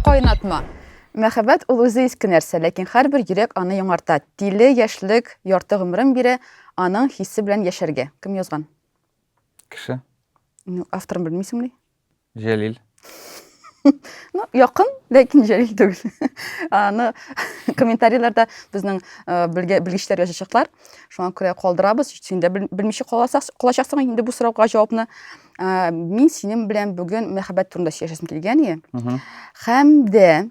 Кайнатма. Мәхәббәт ул үзе иске нәрсә, ләкин һәрбер йөрәк аны яңарта. Тиле яшьлек ярты гомерен бирә, аның хисе белән яшәргә. Кем язган? Кеше. Ну, авторын белмисеңми? Җәлил. Ну, якын, ләкин җәлил түгел. Аны комментарийларда безнең белгечләр язачаклар. Шуңа күрә калдырабыз. Син дә белмичә калачаксың инде бу сорауга җавапны. Мин синең белән бүген мәхәббәт турында сөйләшәсем килгән ие. Һәм дә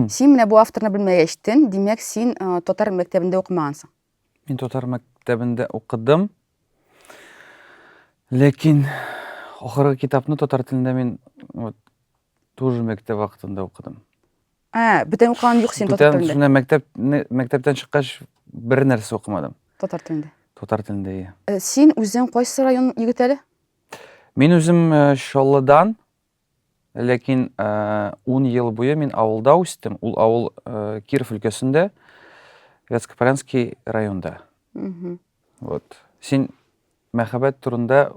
син менә бу авторны белмәгәчтен, димәк, син татар мәктәбендә укымагансың. Мин татар мәктәбендә укыдым. Ләкин ахыргы китапны татар телендә мин вот тоже мәктәп вакытында укыдым. Ә, бүтән укыган юк син татар телендә. Бүтән мәктәп мәктәптән чыккач бер нәрсә укымадым. Татар телендә. Татар телендә, иә. Син үзең кайсы район егет әле? Мин үзем Чаллыдан, Ләкин ун ел буе мин авылда үстем. Ул авыл Киров өлкәсендә, Вятскопаренский районда. Вот. Син мәхәббәт турында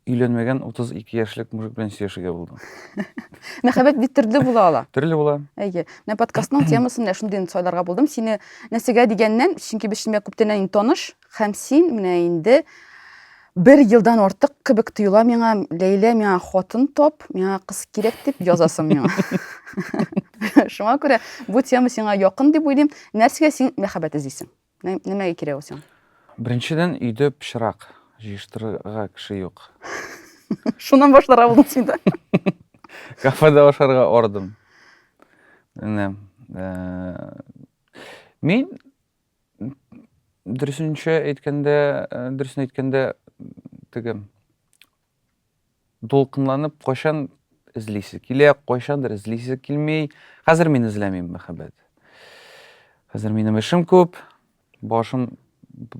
өйләнмәгән 32 яшьлек мужик белән сөйләшергә булдың. Мәхәббәт бит төрле була ала. Төрле була. Әйе. Менә подкастның темасын менә шундый сайларга булдым. Сине нәрсәгә дигәннән, чөнки без синең күптәннән таныш, Һәм син менә инде бер елдан артык кебек тоела миңа ләйлә миңа хатын тап миңа кыз кирәк дип язасың миңа шуңа күрә бу тема сиңа якын дип уйлыйм нәрсәгә син мәхәббәт эзлисең нәмәгә кирәк ул сиңа беренчедән өйдә пычрак җыештырырга кеше юк шуннан башларга булдың син да кафеда ашарга ордым менә э, мин Дөресенчә әйткәндә, э, дөресен әйткәндә, теге дулкынланып кайчан эзлисе килә, кайчандыр эзлисе килми. Хәзер мин эзләмим мәхәббәт. Хәзер минем эшем күп, башым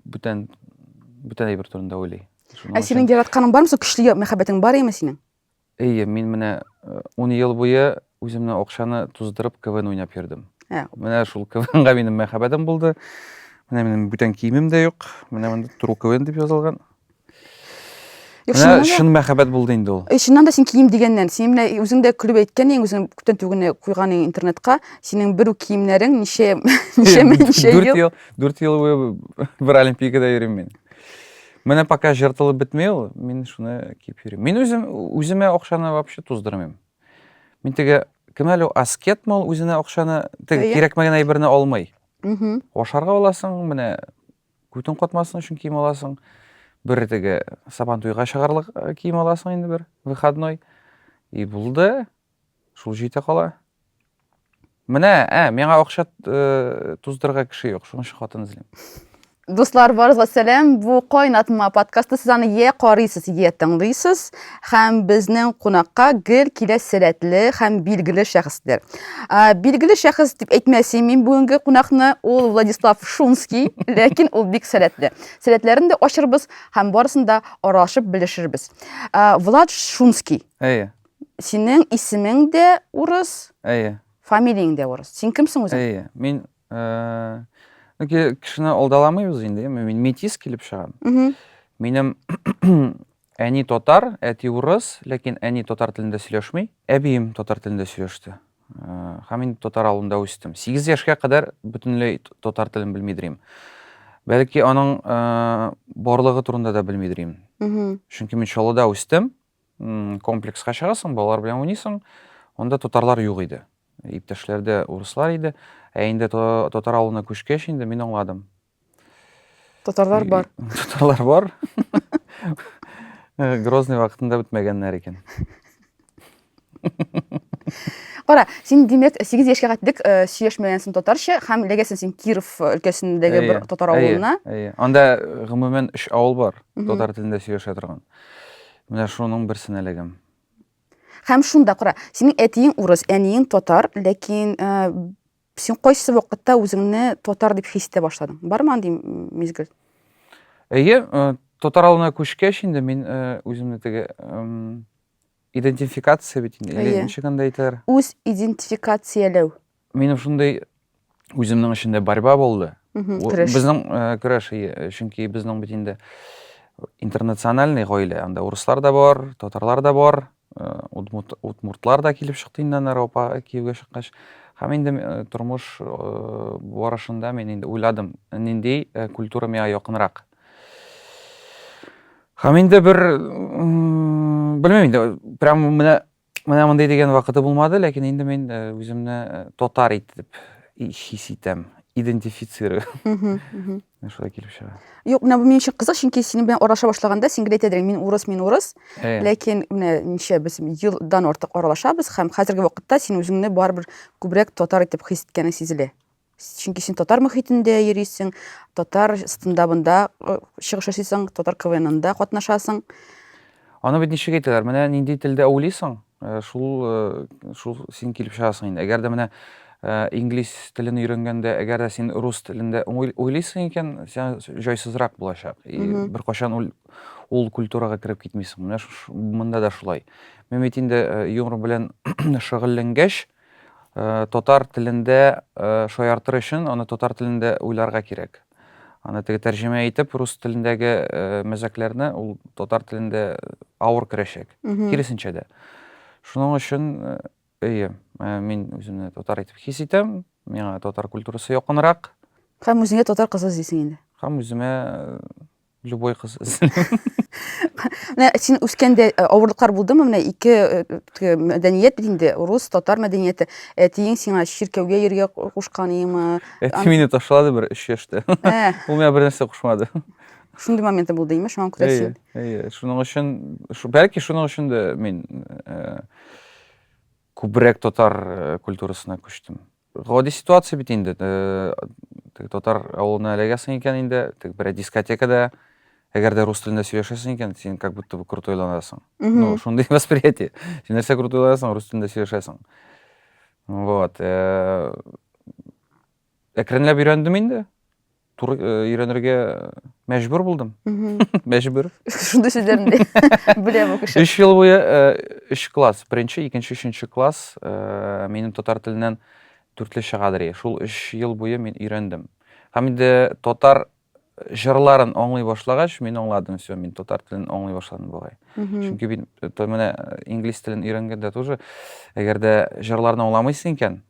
бүтән бүтән әйбер турында уйлый. Ә синең яратканың бармы? Су көчле мәхәббәтең бар име синең? Әйе, мин менә ун ел буе үземне акчаны туздырып КВН уйнап йөрдем. Ә. Менә шул КВНга минем мәхәббәтем булды. Менә минем бүтән киемем дә юк. Менә монда Туру КВН дип язылган. Менә шын мәхәббәт булды инде ул. Чыннан да син кием дигәннән, син менә үзең дә көлеп әйткән идең, үзең күптән түгел куйган идең интернетка, синең бер үк киемнәрен ничә ничә ничә ел. 4 ел, 4 ел буе бер олимпиадада йөрим мин. Менә пока жыртылып бетмей ул, мин шуны киеп йөрим. Мин үзем үземә акчаны вообще туздырмыйм. Мин теге кем әле аскет мол үзенә акчаны теге кирәкмәгән әйберне алмый. Ашарга аласың, менә күтең катмасын өчен кием аласың. Бер теге сабан туйга чыгарлык э, кием аласың инде бер выходной. И булды. Шул җитә кала. Менә, ә, миңа акча туздырырга кеше юк, шуның өчен хатын эзлим. Дуслар, барыгызга сәлам. Бу кайнатма подкасты. Сез аны йә карыйсыз, йә тыңлыйсыз. Һәм безнең кунакка гел килә сәләтле һәм билгеле шәхесләр. Билгеле шәхес дип әйтмәсем мин бүгенге кунакны, ул Владислав Шумский, ләкин ул бик сәләтле. Сәләтләрен дә ачырбыз һәм барысын да аралашып белешербез. Влад Шумский. Әйе. Синең исемең дә урыс. Әйе. Фамилияң дә урыс. Син кемсең үзең? Әйе. Мин э, кешене алдаламыйбыз инде. Мин метис килеп чыгам. Минем әни татар, әти урыс, ләкин әни татар телендә сөйләшми. Әбием татар телендә сөйләште. Э, һәм мин татар авылында үстем. 8 яшькә кадәр бөтенләй татар телен белми дирим. Бәлки аның э, барлыгы турында да белми дирим. Чөнки мин Чаллыда үстем. Комплекска чыгасың, балалар белән уйныйсың. Анда татарлар юк иде. Иптәшләрдә урыслар иде. Ә инде татар авылына күчкәч инде мин аңладым. Татарлар бар. Татарлар бар. Грозный вакытында бетмәгәннәр икән. Кара, син димәк 8 яшькә кайтдык, э, сөйләшмәгәнсең татарча һәм эләгәсең син Киров э, өлкәсендәге бер Әйе, татар әйе, авылына. әйе. Анда э, гомумән өч авыл бар, Мгм. татар телендә сөйләшә торган. Менә шуның берсенә эләгәм. Һәм шунда кара, синең әтиең урыс, әниең татар, ләкин э, син кайсы вакытта үзеңне татар дип хис итә башладың? Бармы андый м, мизгел? Әйе, э, татар авылына күчкәч инде мин э, үземне теге эм, Идентификация бит инде. Или Әйе. ничек анда әйтәләр? Үз идентификацияләү. Минем шундый үземнең эчендә борьба булды. Мгм, Ул- Көрәш. Безнең э, көрәш, ие, чөнки безнең бит инде интернациональный гаилә. Анда урыслар да бар, татарлар да бар, э, удмурт- удмуртлар да килеп чыкты инде аны Ропа кияүгә чыккач. Һәм инде э, тормыш э, барышында мин инде уйладым, нинди э, культура миңа якынрак. Һәм инде бер белмим инде прям менә менә мондый дигән вакыты булмады, ләкин инде мин э, үземне э, татар итеп хис итәм, идентифицирую. Шулай килеп чыга. Юк, менә бу минем өчен кызык, чөнки синең белән аралаша башлаганда син гел әйтәдең, мин урыс, мин урыс. Э. Ләкин менә ничә без елдан артык аралашабыз һәм хәзерге вакытта син үзеңне барыбер күбрәк татар итеп хис иткәнең сизелә. Чөнки син татар мөхитендә йөрисең, татар стендабында э, чыгыш ясыйсың, татар КВНында катнашасың. Аны бит ничек әйтәләр? Менә нинди телдә уйлыйсың, э, шул э, шул син килеп чыгасың инде. Әгәр дә менә инглиз телен өйрәнгәндә, әгәр дә син рус телендә уйлыйсың икән, сиңа җайсызрак булачак. И беркайчан ул, ул культурага кереп китмисең. Менә монда да шулай. Мен бит инде юмор белән шөгыльләнгәч, Татар телендә шаяртыр өчен аны татар телендә уйларга кирәк. Аны теге тәрҗемә итеп рус телендәге мәзәкләрне ул татар телендә авыр керәчәк. Киресенчә дә. Шуның өчен әйе, мин үземне татар итеп хис итәм, миңа татар культурасы якынрак. Һәм үзеңә татар кызы эзлисең инде. Һәм үземә Любой кыз Менә син үскәндә э, авырлыклар булдымы? Менә ике э, э, мәдәният бит инде, рус, татар мәдәнияте. Әтиең сиңа чиркәүгә йөргә кушкан имы? Әти мине ташлады бер 3 яшьтә. Ул миңа бер нәрсә кушмады. Шундый моменты булды имеш, шуңа күрә син. Әйе, шуның өчен, бәлки шуның өчен дә мин күбрәк татар культурасына күчтем. Гади ситуация бит инде. Теге татар авылына эләгәсең икән инде, теге берәр дискотекада, әгәр дә рус телендә сөйләшәсең икән, син как будто бы крутой-ланасың. Ну, шундый восприятие. Син нәрсә крутой-ланасың, рус телендә сөйләшәсең. Вот. Әкренләп өйрәндем инде. туры э, өйрәнергә мәҗбүр булдым мәҗбүр шундый сүзләрне дә белә бу кеше өч ел буе өч э, класс беренче икенче өченче класс э, минем татар теленнән дүртле чыгадыр шул өч ел буе мин өйрәндем һәм инде татар җырларын аңлый башлагач мин аңладым все мин татар телен аңлый башладым бугай чөнки мин менә инглиз телен өйрәнгәндә тоже әгәр дә җырларны аңламыйсың икән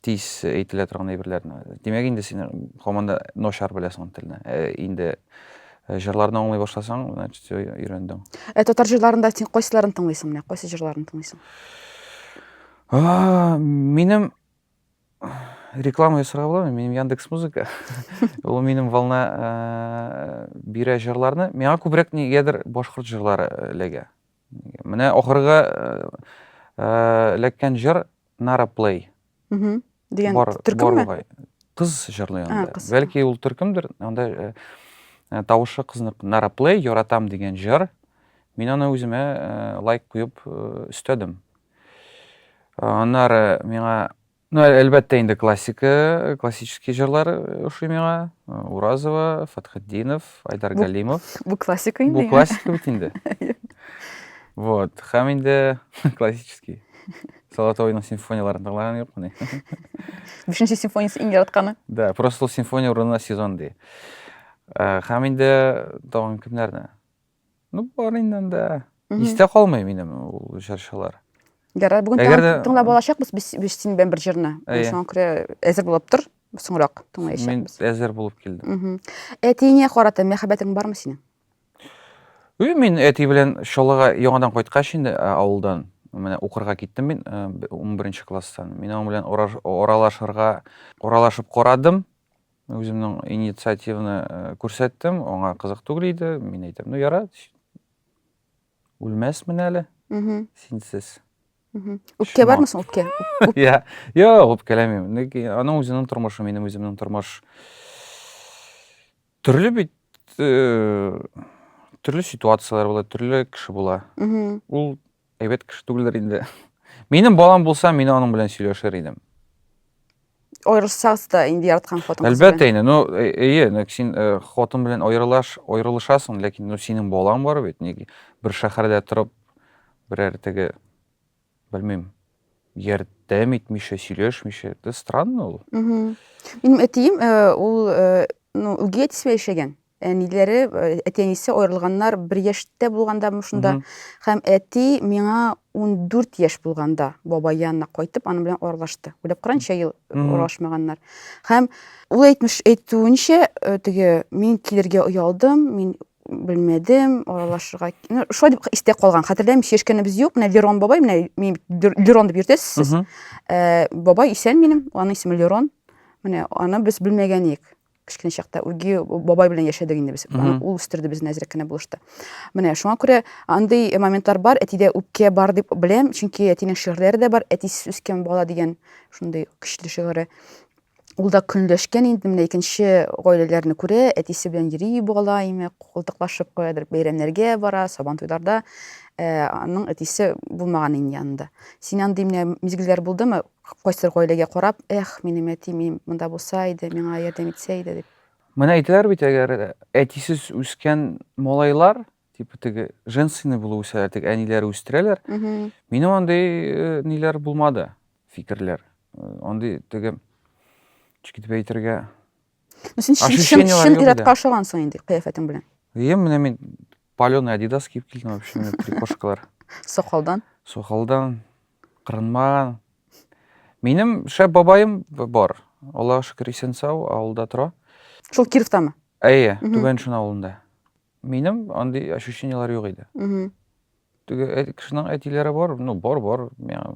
Тиз әйтелә торган әйберләрне. Димәк инде син һаман да начар беләсең ул телне. Ә инде э, җырларны аңлый башласаң, значит, все өйрәндең. Ә татар җырларында син кайсыларын тыңлыйсың менә? Кайсы җырларын тыңлыйсың? А, Минем реклама ясарга буламы? Минем Яндекс Музыка. Ул минем волна э, бирә җырларны. Миңа күбрәк нигәдер башкорт җырлары эләгә. Менә ахыргы э, э, эләккән җыр Nara Play. Мгм. Дигән Бар, бар төркемме? бугай. Кыз җырлый А, анда. кыз. Бәлки ул төркемдер, анда э, э, тавышы кызныкы. Nara Play, Яратам дигән җыр. Мин аны үземә э, лайк куеп э, өстәдем. Э, Аннары миңа, ну, әл- әлбәттә инде классика, классический җырлар э, ошый миңа. Э, Уразова, Фатхетдинов, Айдар Бу- Галимов. Бу классика инде. Бу классика бит инде. Вот, һәм инде классический. Солотойның симфонияләрен тыңлаган юк мени? Бишенче симфониясе иң яратканы. Да, просто ул симфония урынына сезон ди. Э, Һәм инде тагын кемнәрне? Ну, бар инде анда. Мгм. Истә калмый минем ул җырчылар. Ярар, бүген Әгәр тагын дә- тыңлап алачакбыз без без синең белән бер җырны. Әйе. Шуңа күрә әзер булып тор, соңрак Мин тыңлаячакбыз. әзер булып килдем. Мгм. Әтиеңә карата мәхәббәтең бармы синең? И, мин әти белән Чаллыга яңадан кайткач инде э, авылдан, менә укырга киттем мин э, б- унберенче класстан. Мин аның белән ораш- аралашырга, аралашып карадым. Үземнең инициативаны э, күрсәттем, аңа кызык түгел иде. Мин әйтәм, ну яра, үлмәсмен әле Мгм, синсез. мгм. Үпкә Шума. бармы соң, үпкә? Үп- Я, я, үпкәләмим. Ләкин Аның үзенең тормышы, минем үземнең тормыш. Төрле бит э, төрле ситуацияләр була, төрле кеше була. Мгм. Ул әйбәт кеше түгелдер инде. Минем балам булса, мин аның белән сөйләшер идем. Аерылсагыз да инде яраткан хатыныңыз Әлбәттә инде, ну э- эйе, нәк син э, хатын белән аерылаш, аерылышасың, ләкин ну синең балаң бар бит, ник бер шәһәрдә торып, берәр теге белмим ярдәм итмичә сөйләшмичә это странно ул минем әтием э, ул э, ну үги әтисе яшәгән әниләре э, әти әнисе аерылганнар бер яшьтә булганда шунда һәм әти миңа 14 яшь булганда бабай янына кайтып аның белән аралашты уйлап каранчы ел аралашмаганнар һәм ул әйтмеш әйтүенчә теге мин килергә оялдым мин белмәдем, аралашырга. Ну, шулай дип истә калган. Хәтерләмим, чешкәнебез юк. Менә Лерон бабай, менә мин Лерон дип йөртәсез сез. Э, бабай исән минем, аның исеме Лерон. Менә аны без белмәгән идек. Кечкенә чакта үги бабай белән яшәдек инде без. Ул үстерде безне әзрәк кенә булышты. Менә шуңа күрә андый моментлар бар, әтидә үпкә бар дип беләм, чөнки әтинең шигырьләре дә бар, әтисез үскән бала дигән шундый көчле шигыре. Ул да көнләшкән инде менә икенче гаиләләрне күрә, әтисе белән йөри бу бала име, култыклашып каядыр бәйрәмнәргә бара, сабан туйларда э, аның әтисе булмаган инде янында. Син андый менә мизгелләр булдымы? Кайсыр гаиләгә карап, эх, минем әтим монда булса иде, миңа ярдәм итсә иде дип. Менә әйтәләр бит, әгәр әтисез үскән малайлар типа теге женственный булып үсәләр теге әниләр үстерәләр минем андый э, ниләр булмады фикерләр э, андый теге ничек итеп әйтергә син чын чын иратка ошагансың инде кыяфәтең белән иә менә мин паленый адидас киеп килдем вообще менә прикошкалар сакалдан сакалдан кырынмаган минем шәп бабаем бар аллага шөкер исән сау авылда тора шул кировтамы әйе түбән шын авылында Минем андый ощущенияләр юк иде. Теге әти кешенең әтиләре бар, ну бар, бар, миңа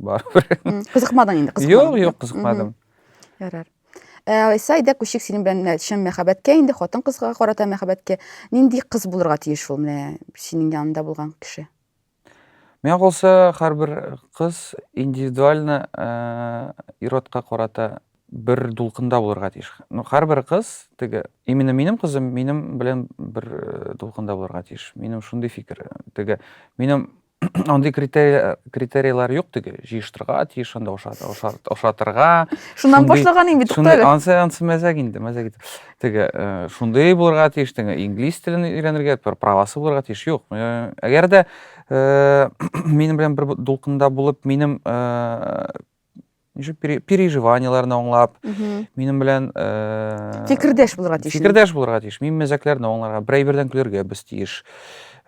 барыбер. Кызыкмадың инде, кызыкмадың. Юк, юк, кызыкмадым. Ярар. Ә Айса, әйдә күчик синең белән чын мәхәббәткә инде, хатын кызга карата мәхәббәткә. Нинди кыз булырга тиеш ул менә синең янында булган кеше? Миңа калса, һәрбер кыз индивидуально ир-атка карата бер дулкында булырга тиеш. Ну, һәрбер кыз, теге, именно минем кызым минем белән бер дулкында булырга тиеш. Минем шундый фикер. Теге, минем андый критерийлар, критерийлар юк теге, җыештырга тиеш, анда ошатырга. Шуннан башлаганың бит, Туктале. Ансы, ансы мәзәк инде, мәзәк инде. Теге шундый булырга тиеш, теге инглиз телен өйрәнергә, бер правасы булырга тиеш. Юк. Әгәр дә минем белән бер дулкында булып, минем переживаниеләрне аңлап, минем белән фикердәш булырга тиеш. Фикердәш булырга тиеш. Мин мәзәкләрне аңларга, берәйбердән көлергә без тиеш.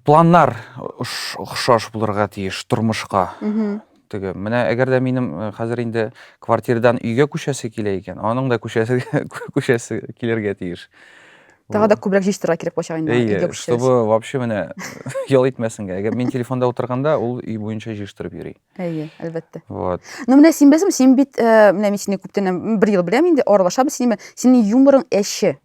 Планнар охшаш булырга тиеш тормышка. Теге, менә әгәр дә минем э, хәзер инде квартирдан өйгә күчәсе килә икән, аның да күчәсе күчәсе килергә тиеш. Тагы да күбрәк җыештырырга кирәк булачак инде аны, өйгә Әйе, күчсәгез. чтобы вообще менә ял итмәсенгә. Әгәр мин телефонда утырганда, ул өй буенча җыештырып йөри. Әйе, әлбәттә. Вот. Ну менә син беләсеңме, син бит, э, менә мин сине күптән, м, бер ел беләм инде, аралашабыз синең белән. Синең юморың әче.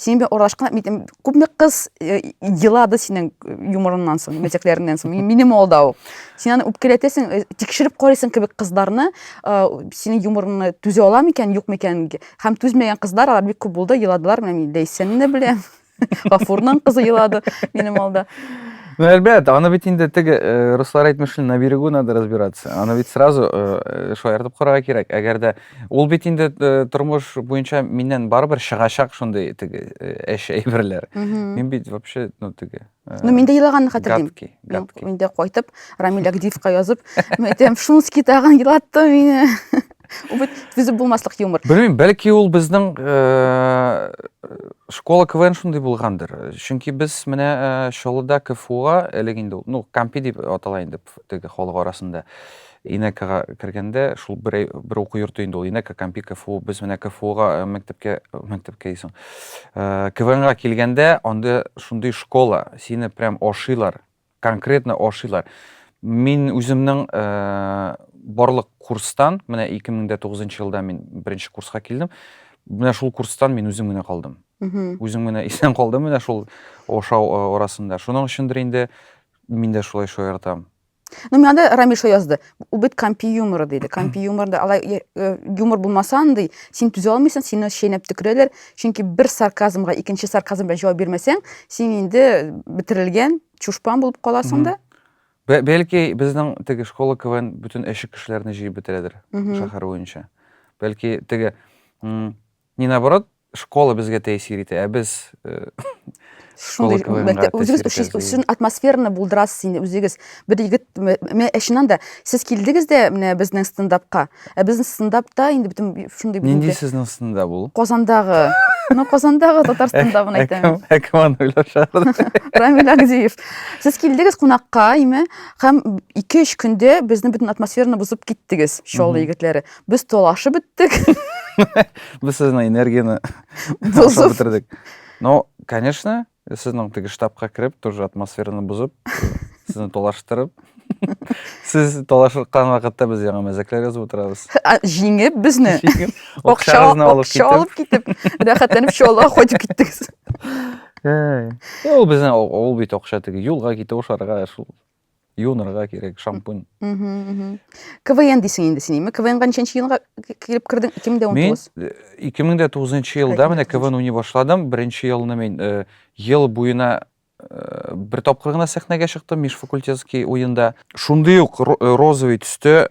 Синең белән аралашкан мин м, күпме кыз э, елады синең э, юморыңнан соң, мәзәкләреңнән соң. Мин- Минем алда ул. Син аны үпкәләтәсең, э, тикшереп карыйсың кебек кызларны, э, синең юморыңны түзә ала микән, юк микән? Һәм түзмәгән кызлар алар бик күп булды, еладылар. Менә мин Ләйсәнне дә беләм. Гафурның кызы елады минем алда. Ну, әлбәт, аны бит инде теге э, руслар әйтмешли, на берегу надо разбираться. Аны бит сразу э, шаяртып карарга кирәк. Әгәр дә Ул бит инде э, тормыш буенча миннән барыбер чыгачак шундый теге э, эш әйберләр. Мин бит вообще, ну теге. Э, ну, мин дә елаганны хәтерлим. Гадки, гадки. Мин дә кайтып, Рамиль Агдиевка язып, мен әйтәм, Шунский тагын елатты мине. Ул бит түзеп булмаслык юмор. Белмим, бәлки ул безнең школа КВН шундый булгандыр. Чөнки без менә Чаллыда КФУга элек инде, ну, Кампи дип атала инде теге халык арасында. Инәкага кергәндә, шул бер әй, бер уку йорты инде ул, Инәка, Кампи, КФУ, без менә КФУга э, мәктәпкә, мәктәпкә дисең, э, КВНга килгәндә, анда шундый школа, сине прям ашыйлар, конкретно ашыйлар. Мин үземнең э, барлык курстан, менә 2009 елда мин беренче курска килдем, менә шул курстан мин үзем генә калдым. Мгм. Үзем генә исән калдым менә шул ашау э, арасында. Шуның өчендер инде мин дә шулай шаяртам. Ну, мен анда Рамиша язды. Ул бит компи юморы диде. Компи юморында алай э, э, юмор булмаса андый, син түзә алмыйсың, сине шәйнәп төкерәләр. Чөнки бер сарказмга икенче сарказм белән җавап бирмәсәң, син инде бетерелгән чушпан булып каласың да. Бәлки безнең теге школа КВН бөтен әшек кешеләрне җыеп бетерәдер шәһәр буенча. Бәлки теге не наоборот, Школа безгә тәэсир итә, ә без школа КВНга Үзегез өчен атмосфераны булдырасыз инде үзегез. Бер егет, менә әшинан да, сез килдегез дә менә безнең стендапка. Ә безнең стендапта инде бөтен шундый бит. Нинди сезнең стендап ул? Казандагы. Ну, Казандагы татар стендабын әйтәм. Ә кем аны уйлап чыгарды? Рамил Агдиев. Сез килдегез кунакка, име, һәм 2-3 көндә безнең бөтен атмосфераны бозып киттегез, Чаллы егетләре. Без талашып беттек. Без сезнең энергияне бозып бетердек. Но, конечно, сезнең теге штабка кереп, тоже атмосфераны бозып, сезне талаштырып, Сез талашыркан вакытта без яңа мәзәкләр язып утырабыз. Җиңеп безне. Акча алып китеп, рәхәтләнеп чалга кайтып киттегез. Ул безне ул бит акча теге юлга китә ошарга шул Юынырга кирәк, шампунь. КВН дисең инде син, ме? КВНга ничәнче елга килеп кердең? 2019. Мин 2009 э, елда менә КВН уйный башладым. Беренче елны мин э, ел буена э, бер тапкыр гына сәхнәгә чыктым, межфакультетский уенда. Шундый ук розовый төстә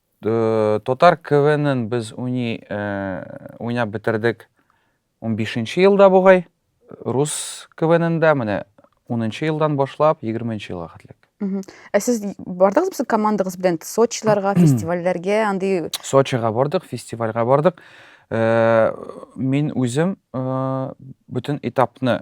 Татар КВНын без уйный, уйнап бетердек унбишенче елда бугай. Рус КВНында менә унынчы елдан башлап егерменче елга хәтлек. Ә сез бардыгыз безнең командагыз белән Сочиларга, фестивальләргә, андый Сочига бардык, фестивальгә бардык. Мин үзем бөтен этапны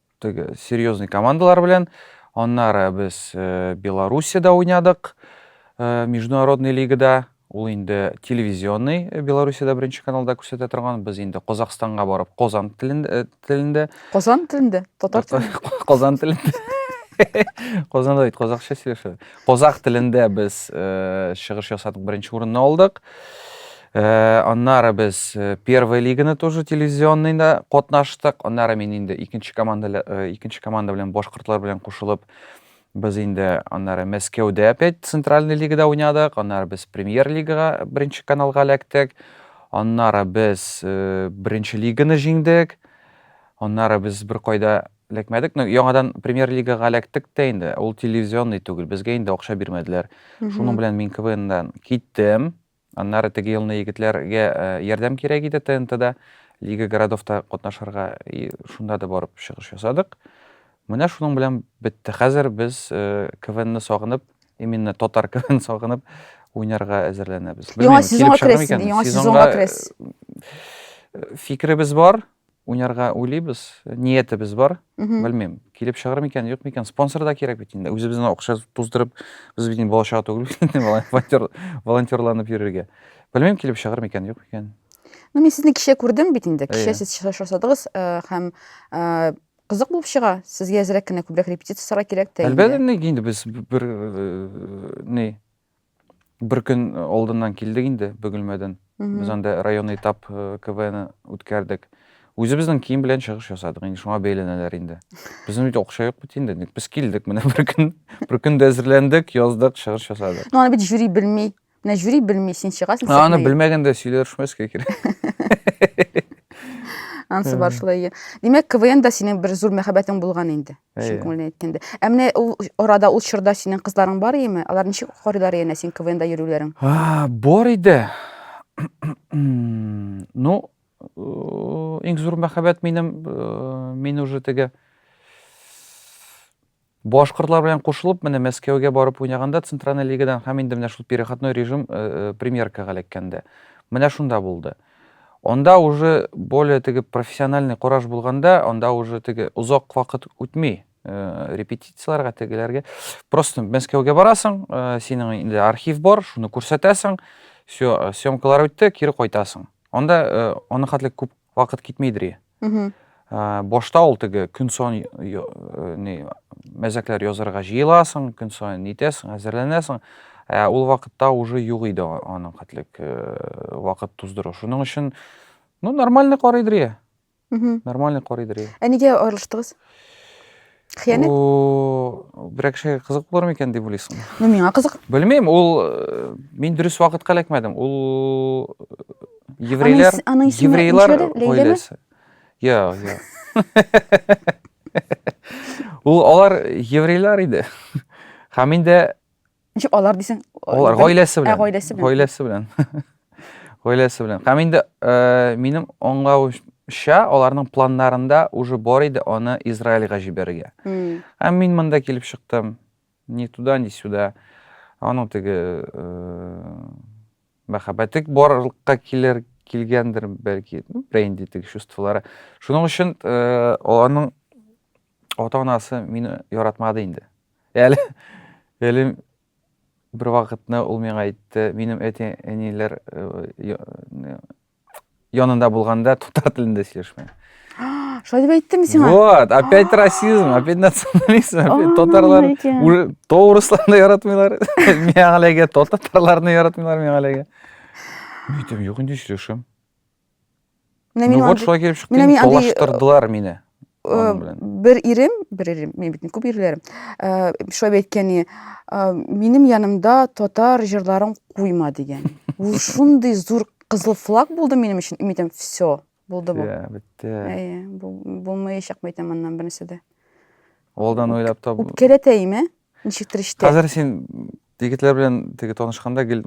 теге серьезный командалар белән. Аннары без э, Белоруссиядә уйнадык, э, международный лигада. Ул инде телевизионный э, Белоруссиядә беренче каналда күрсәтә торган. Без инде Казахстанга барып, Казан телендә, телендә. Казан телендә, татар телендә. Казан телендә. Казанда бит казахча сөйләшә. Казах телендә без чыгыш ясадык, беренче урынны алдык. Э, аннары без э, первая лиганы тоже телевизионныйда катнаштык. Аннары мин инде икенче команда э, икенче команда белән башкортлар белән кушылып без инде аннары Мәскәүдә опять центральный лигада уйнадык. Аннары без премьер лигага беренче каналга эләктек. Аннары без беренче лиганы җиңдек. Аннары без бер кайда эләкмәдек но яңадан премьер лигаға эләктек тә инде ул телевизионный түгел безгә инде акча бирмәделәр шуның белән мин квннан киттем Аннары теге елны егетләргә ярдәм кирәк иде ТНТда, Лига городовта катнашырга, и шунда да барып чыгыш ясадык. Менә шуның белән бетте. Хәзер без КВНны сагынып, именно татар КВН сагынып уйнарга әзерләнәбез. Яңа сезонга керәсез, яңа сезонга керәсез. Фикеребез бар. Уйнарга уйлыйбыз, ниятебез бар. Белмим, килеп чыгыр микән, юк микән. Спонсор да кирәк бит инде. Үзебезнең акча туздырып, без бит инде балачага түгел бит инде волонтер, волонтерланып йөрергә. Белмим, килеп чыгыр микән, юк микән. Ну, мин сезне кичә күрдем бит инде. Кичә сез чыгыш ясадыгыз һәм кызык булып чыга. Сезгә әзрәк кенә күбрәк репетицияләр кирәк тә. Әлбәттә, инде без бер ни Бер көн алдыннан килдек инде Бөгелмәдән. Без анда районный этап КВН үткәрдек. Үзебезнең кием белән чыгыш ясадык. Инде шуңа бәйләнәләр инде. Безнең бит акча юк бит инде. Без килдек менә бер көн. Бер көн дә әзерләндек, яздык, чыгыш ясадык. Ну аны бит жюри белми. Менә жюри белми, син чыгасың. Аны белмәгәндә сөйләшмәскә кирәк. Ансы бар шулай. Димәк, КВН да синең бер зур мәхәббәтең булган инде. Чын күңелдән әйткәндә. Ә менә ул арада ул чорда синең кызларың бар идеме? Алар ничек карыйлар янә син КВНда йөрүләрең? Бар иде. Ну, иң зур мәхәббәт минем, мин уже теге башкортлар белән кушылып, менә Мәскәүгә барып уйнаганда Центральная лигадан һәм инде менә шул переходной режим премьеркага эләккәндә. Менә шунда булды. Анда уже более теге профессиональный кораж булганда, анда уже теге озак вакыт үтми, э, репетицияләргә тегеләргә. Просто Мәскәүгә барасың, э, синең инде архив бар, шуны күрсәтәсең, все, э, съемкалар үтте, кире кайтасың. Анда э, аны хәтле күп вакыт китмейдер. башта ул теге көн сон не мәзәкләр язарга җыеласың көн сон нитәсең әзерләнәсең ә ул вакытта уже юк иде аның хәтлек вакыт туздыру шуның өчен ну нормальный карый дрия нормальный карый дрия ә нигә аерылыштыгыз Хыянәт. Бу берәр кешегә кызык булыр микән дип уйлыйсың? Ну, миңа кызык. Белмим, ул э, мин дөрес вакытка эләкмәдем. Ул э, еврейлар, аның исеме еврейлар гаиләсе. Я, я. Ул алар еврейлар иде. Һәм инде Ничек алар дисең? Алар гаиләсе белән. Ә гаиләсе белән. Гаиләсе белән. Гаиләсе белән. Һәм инде э, минем аңлавымча, аларның планнарында уже бар иде аны Израильга җибәрергә. Һәм мин монда килеп чыктым. Ни туда, ни сюда. Аның теге э, мәхәббәте барлыкка килер килгәндер бәлки ну, бренди теге чувстволары шуның өчен э, аның ата анасы мине яратмады инде Әле, әле бер вакытны ул миңа әйтте, минем әти-әниләр янында булганда татар телендә сөйләшмә. Шулай дип әйттеме сиңа? Вот, опять расизм, опять национализм, опять татарлар уже тоурысларны яратмыйлар. Миңа әлегә татарларны яратмыйлар миңа әлегә. Митем, юк инде сөйләшәм. Менә минем вот шулай килеп чыкты. Менә мин талаштырдылар мине. Бер ирем, бер ирем, мин бит күп ирләрем. Шулай әйткәне, минем янымда татар җырларын куйма дигән. Ул шундый зур кызыл флаг булды минем өчен. Мин әйтәм, все, булды бу. Бетте. Әйе, булмаячак, әйтәм аннан бернәрсә дә. Алдан уйлап табу. Үпкәләтәйме? Ничектер ишетә. Хәзер син егетләр белән теге танышканда гел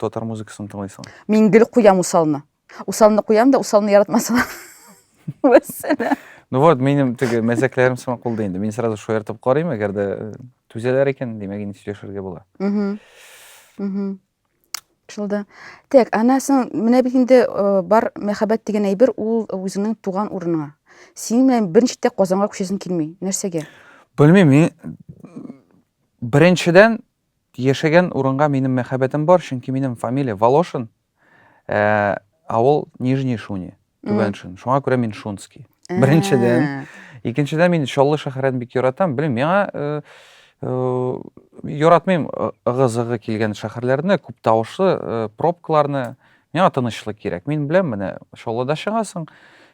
татар музыкасын тыңлыйсың. Мин гел куям усалны. Усалны куям да усалны яратмасам. Вәссәләм. Ну вот, минем теге мәзәкләрем сиңа кулда инде. Мин сразу шаяртып карыйм, әгәр дә э, түзәләр икән, димәк инде сөйләшергә була. Шулда. Так, ана соң менә бит инде э, бар мәхәббәт дигән әйбер ул үзеңнең туган урыныңа. Синең белән беренче тә Казанга күчәсең килми. Нәрсәгә? Белмим, мин беренчедән яшәгән урынга минем мәхәббәтем бар, чөнки минем фамилия Волошин, ә, авыл Нижний Шуни. Түбәншин. Шуңа күрә мин Шунский. Беренчедән. Икенчедән мин Чаллы шәһәрен бик яратам. Белмим, миңа э, э, яратмыйм э, ыгы-зыгы килгән шәһәрләрне, күп тавышлы э, пробкаларны. Миңа тынычлык кирәк. Мин беләм, менә Чаллыда чыгасың,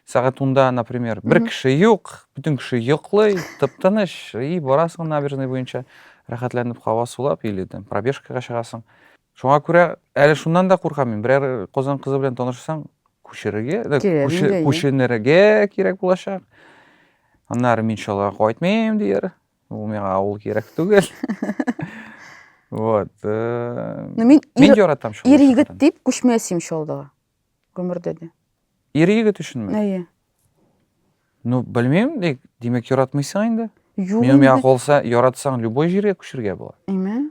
сәгать унда, например, бер кеше юк, бөтен кеше йоклый, тып-тыныч, и, барасың набережный буенча, рәхәтләнеп һава сулап или там пробежкага чыгасың. Шуңа күрә әле шуннан да куркам мин. Берәр Казан кызы белән танышсаң, күчерергә, күченергә кирәк булачак. Аннары мин шулай кайтмыйм дияр. Ул миңа авыл кирәк түгел. Вот. Э, ну, мин мин яратам шул. Ир егет дип күчмәсем шулдыга. Гомердә дә. Ир егет өченме? Әйе. Ну, белмим, дик, димәк яратмыйсың инде. Юк. Мин миңа калса, яратсаң любой җиргә күчергә була. Әйме?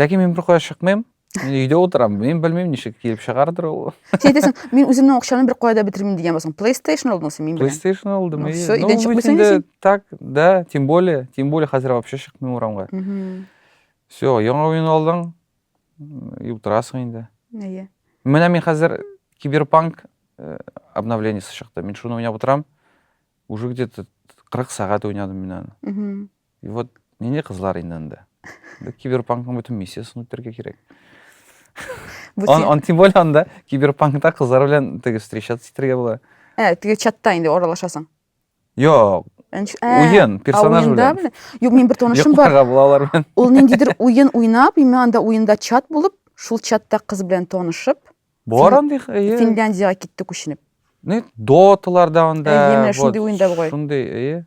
ләкин мин беркая чыкмыйм мин өйдә утырам мин белмим ничек килеп чыгардыр ул син әйтәсең мин үземнең акчаны бер кая да бетермим дигән булсаң плейстейшн алдың син мин белән плейстейшн алдым все өйдән чыкмыйсың инде так да тем более тем более хәзер вообще чыкмыйм урамга все яңа уен алдың и утырасың инде әйе менә мин хәзер киберпанк э, обновлениесе чыкты мин шуны уйнап утырам уже где то кырык сәгать уйнадым мин аны И вот нинди кызлар инде анда? Бу киберпанкның бөтен миссиясен үтәргә кирәк. Он, он тем более анда киберпанкта кызлар белән теге встречаться итәргә була. Ә, теге чатта инде аралашасың. Юк. Уен, персонаж белән. Юк, мин бер танышым бар. Юк, булалар белән. Ул ниндидер уен уйнап, и мен анда уенда чат булып, шул чатта кыз белән танышып. Бар андый. Финляндиягә китте күченеп. Не, доталарда анда. Әйе, менә шундый уенда бугай. Шундый, әйе.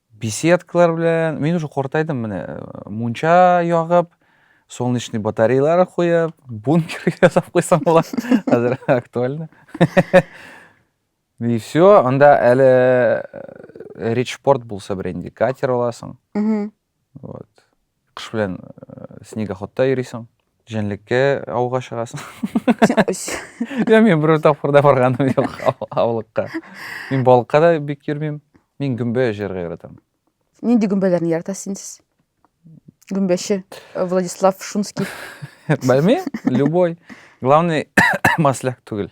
беседкалар белән мин уже картайдым менә мунча ягып солнечный батареялар куеп бункер ясап куйсам була хәзер актуально и все анда әле речпорт булса беренди катер аласың вот Кыш белән снегоходта йөрисең, җәнлеккә ауга чыгасың. Мин берәр тапкыр да барганым юк аулыкка. Мин балыкка да бик йөрмим. Мин гөмбә җыярга яратам. Нинди гөмбәләрне яратасыз инде сез? Гөмбәче э, Владислав Шунский. Белмим, любой. Главный масляк түгел.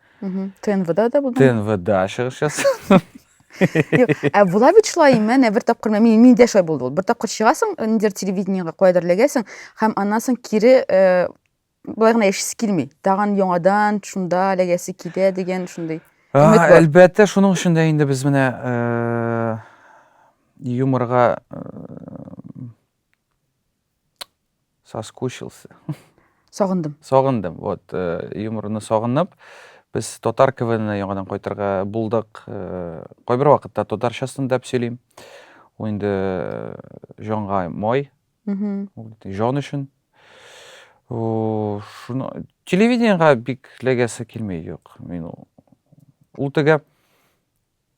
Мгм. ТНВда да булдың. ТНВда чыгыш ясадым. Юк, ә була бит шулай, менә бер тапкыр мен- мин- миндә шулай булды ул. Бер тапкыр чыгасың, э, ниндидер телевидениегә каядыр эләгәсең һәм аннан соң кире э, болай гына яшисе килми. Тагын яңадан шунда эләгәсе килә дигән шундый. А, Өмет бар. Әлбәттә, шуның өчен дә инде без менә э, юморга э, Соскучился. Сагындым. Сагындым. Вот, э, юморны сагынып, без татар КВНына яңадан кайтырга булдык. Э, кайбер вакытта татарчасын дип сөйлим. Ул инде э, җанга май. Мм. Ул җан өчен. О, шуны телевидениега бик ләгәсе килми юк. Мин ул. Ул тегә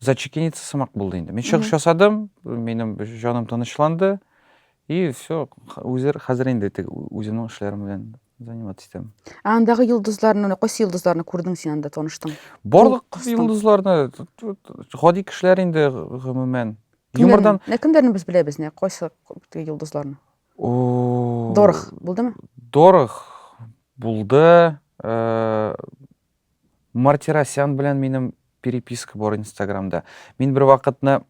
зачекениться сымак булды инде. Мин чыгыш ясадым, минем җаным тынычланды. И все, үзер хәзер инде теге үземнең эшләрем белән заниматься итәм. Ә андагы йолдызларны, кайсы йолдызларны күрдең син анда таныштың? Барлык йолдызларны, гади кешеләр инде гомумән. Юмордан. Нә кемнәрне без беләбез, нә кайсы йолдызларны? Дорх булдымы? Дорх булды. Э, Мартиросян белән минем переписка бар инстаграмда. Мин бер вакытны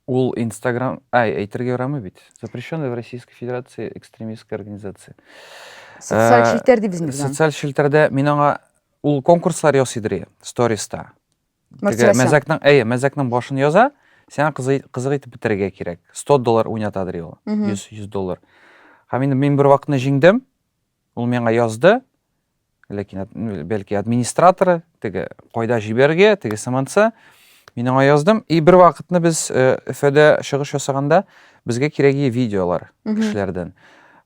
ул инстаграм, ай, әйтергә ярамый бит. Запрещенная в Российской Федерации экстремистская организация. Социаль э, челтәр дип безне Социаль челтәрдә мин аңа ул конкурслар ясый дри, сториста. Мартиросян. Мәзәкнең, әйе, мәзәкнең башын яза, сиңа кызык итеп бетерергә кирәк. 100 доллар уйната дри ул. 100 100 доллар. Һәм мин бер вакытны җиңдем. Ул миңа язды, ләкин бәлки администраторы, теге кайда җибәрергә, теге сыманса, мин аңа яздым. И бер вакытны без э, Өфәдә чыгыш ясаганда безгә кирәге видеолар кешеләрдән.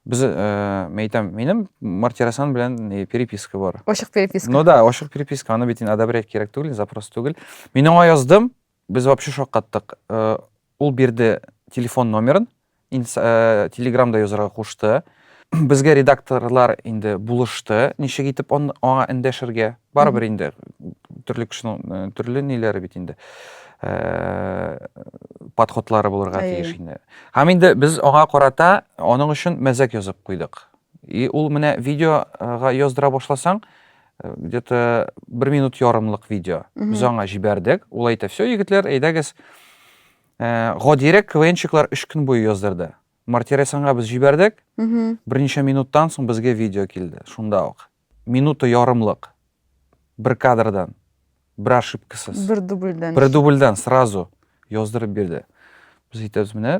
Без, э, мен әйтәм, минем Мартирасан белән э, переписка бар. Ачык переписка. Ну да, ачык переписка, аны бит одобрять кирәк түгел, запрос түгел. Мин аңа яздым, Без вообще шаккаттык. Ул бирде телефон номерын, телеграмда язарга кушты. Безгә редакторлар инде булышты, ничек итеп аңа эндәшергә. Барыбер инде төрле кешенең төрле ниләре бит инде. Подходлары булырга тиеш инде. Һәм инде без аңа карата аның өчен мәзәк язып куйдык. И ул менә видеога яздыра башласаң, Э, где то бер минут ярымлык видео без аңа җибәрдек ул әйтә все егетләр әйдәгез э, гадирәк квнчиклар өч көн буе яздырды мартиресанга без җибәрдек берничә минуттан соң безгә видео килде шунда ук минута ярымлык бер кадрдан бер ошибкасыз бер дубльдән бер дубльдән сразу яздырып бирде без әйтәбез менә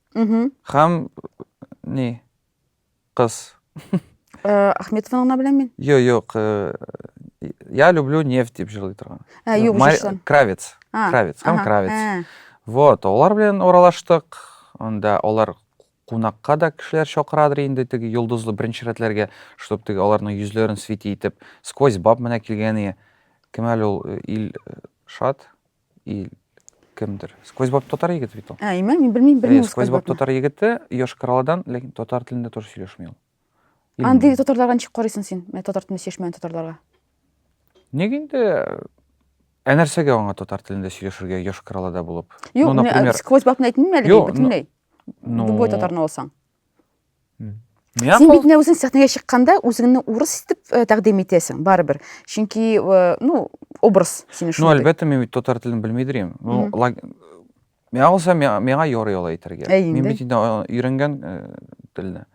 Угу. Хәм... Ни? Кыз. Э, Ахметованы гына беләм мин. Йо, юк. Э, я люблю нефть дип җырлый торган. Ә, юк, Мар... җырчылар. Кравец. А, Кравец. Һәм ага, Кравец. ә. Вот, олар белән оралаштык. Анда олар кунакка да кешеләр чакырадыр инде теге йолдызлы беренче рәтләргә, чтобы теге аларның йөзләрен свети итеп. Сквозь баб менә килгән ие. Кем әле ул э, ил э, шат? и кемдер сквозь баб татар егете бит ул ә имә мин белмим белмим сквозь баб татар егете йошкар алладан ләкин татар телендә тоже сөйләшми ул андый татарларга ничек карыйсың син менә татар телендә сөйләшмәгән татарларга ник инде ә нәрсәгә аңа татар телендә сөйләшергә йошкар аллада булып юк ну, например... сквозь бабны әйтмим әле бөтенләй любой татарны алсаң Мияко. Син бит менә үзең сәхнәгә чыкканда үзеңне урыс итеп э, тәкъдим итәсең, барыбер. Чөнки, э, ну, образ сине Ну, шундый. әлбәттә, мин бит татар телен белмидер идем. Ну, Мгм. лаг- миңа булса, миңа, миңа ярый алай итәргә. Ә Мин инде? бит инде а, өйрәнгән э, телне.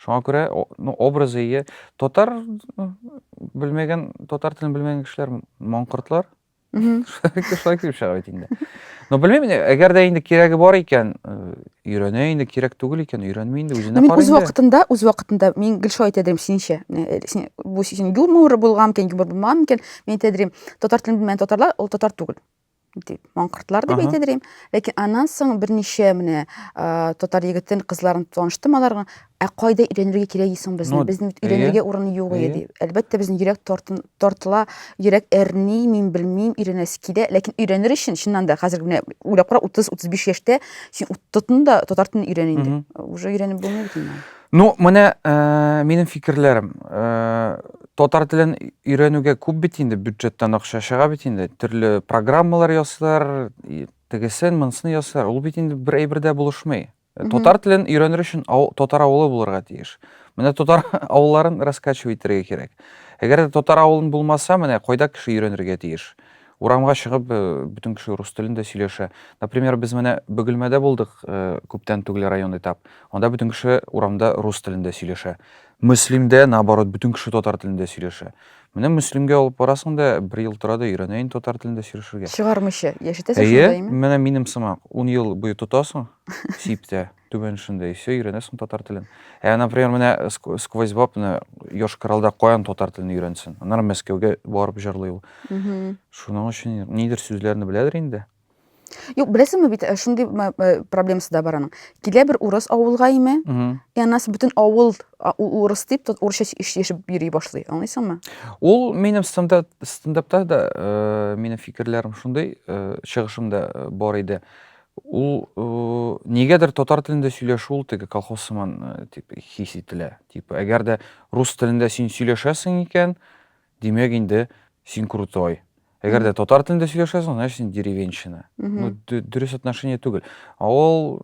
Шуңа күрә, о- ну, образы ие. Татар ну, белмәгән, татар телен белмәгән кешеләр маңкортлар. кешелек дип чыга бит инде но белмим әгәр дә инде кирәге бар икән өйрәнә инде кирәк түгел икән өйрәнми инде үзенә мин үз вакытында үз вакытында мин гел шулай әйтә идем синчә бу син юмор булган микән юмор булмаган микән мин әйтә идем татар телен белмәгән татарлар ул татар түгел дип маңкыртлар дип әйтә идем ләкин аннан соң берничә менә татар егетен кызларын таныштым аларга ә кайда өйрәнергә кирәк исең безне безнең өйрәнергә урын юк иде әлбәттә безнең йөрәк тартын тартыла, йөрәк әрни, мин белмим, өйрәнәсе килә. Ләкин өйрәнер өчен, чыннан да, хәзер менә уйлап кара, 30-35 яшьтә син тотын да татар телен өйрән инде. Уже өйрәнеп булмый бит инде. Ну, менә э, минем фикерләрем. Э, татар телен өйрәнүгә күп бит инде бюджеттан акча чыга бит инде. Төрле программалар ясыйлар, тегесен, монысын ясыйлар. Ул бит инде бер әйбер дә булышмый. Мгм. Татар телен өйрәнер өчен ау- татар авылы булырга тиеш. Менә татар авылларын раскачивать итәргә кирәк. Әгәр дә татар авылын булмаса, менә кайда кеше өйрәнергә тиеш? Урамга чыгып, э, бөтен кеше рус телендә сөйләшә. Например, без менә Бөгелмәдә булдык, э, күптән түгел район этап. Анда бөтен кеше урамда рус телендә сөйләшә. Мөслимдә, наоборот, бөтен кеше татар телендә сөйләшә. Менә Мөслимгә алып барасың да, бер ел тора да өйрәнә инде татар телендә сөйләшергә. Чыгармыйча яшәтәсең Әйе, шунда, әйеме? менә минем сымак, ун ел буе тотасың сиптә, түбән эшендә, и все, өйрәнәсең татар телен. Ә, например, менә Ск- Сквозьбаб, менә Йошкар-Олда каян татар телен өйрәнсен? Аннары Мәскәүгә барып җырлый ул. Мгм. Шуның өчен нидер сүзләрне беләдер инде. Юк, беләсеңме бит, э, шундый э, проблемасы да бар аның. Килә бер урыс авылга име, и аннан соң бөтен авыл урыс дип, тот урысча яшәп йөри башлый. Аңлыйсыңмы? Ул минем стандарт стендапта да э, минем фикерләрем шундый, чыгышымда бар иде. Ул нигәдер татар телендә сөйләшү ул теге колхоз сыман дип хис ителә. Типа, әгәр дә рус телендә син сөйләшәсең икән, Димәк инде син крутой. Әгәр дә татар телендә сөйләшәсең, значит син деревенщина. Ну, дөрес отношение түгел. Ә ул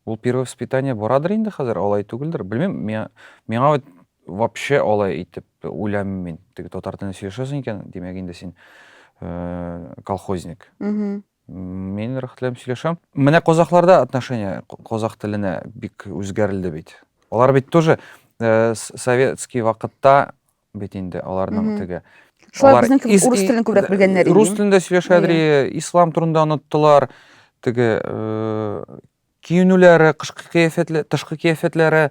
ул первое воспитание барадыр инде хәзер, алай түгелдер. Белмим, миңа миңа вот вообще алай итеп уйламыйм мин. Теге татар телендә сөйләшәсең икән, димәк инде син э, колхозник. Мин рәхәт белән сөйләшәм. Менә казахларда отношение казах теленә бик үзгәрелде бит. Алар бит тоже э, с- советский вакытта бит инде аларның Мгм. теге. Шулай Алар безнең кебек ис- урыс и- телен күбрәк белгәннәр инде. Рус телендә сөйләшәдер, и, ислам турында оныттылар. Теге э, Киенүләре, кышкы кыяфәтләре, тышкы кыяфәтләре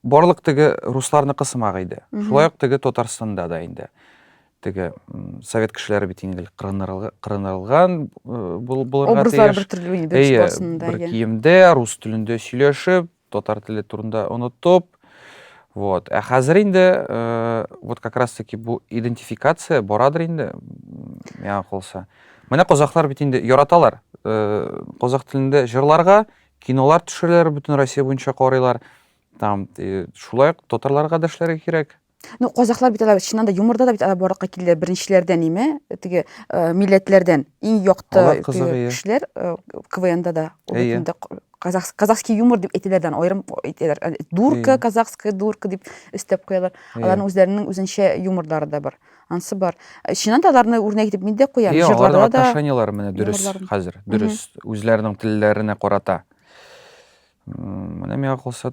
барлык теге русларныкы сымак иде. Шулай ук теге Татарстанда да инде. Теге совет кешеләре бит инде кырынырылган булырга тиеш. Образлар бер төрле инде бер киемдә, рус телендә сөйләшеп, татар теле турында онытып, вот. Ә хәзер инде, э, вот как раз таки бу идентификация барадыр инде, миңа калса. Менә казахлар бит инде яраталар, э, казах телендә җырларга, кинолар төшерәләр, бөтен Россия буенча карыйлар. Там, э, шулай ук татарларга да эшләргә кирәк. Ну, казахлар бит алар чыннан да юморда да бит алар барлыкка килде беренчеләрдән име, теге э, милләтләрдән иң якты Алар кызык, теге иә. кешеләр э, КВНда да ул бит Әйе. инде к- казах- казахский юмор дип әйтеләдән аерым әйтәләр. Ә, Дурка, Әйе. казахская дурка дип өстәп куялар. Иә. Аларның үзләренең үзенчә юморлары да бар. Ансы бар. Э, Чыннан да аларны үрнәк итеп мин дә куям. Иә, аларның Җырларда да отношенияләре менә дөрес юморларын. хәзер, дөрес. Үзләренең телләренә карата. М, Менә миңа калса,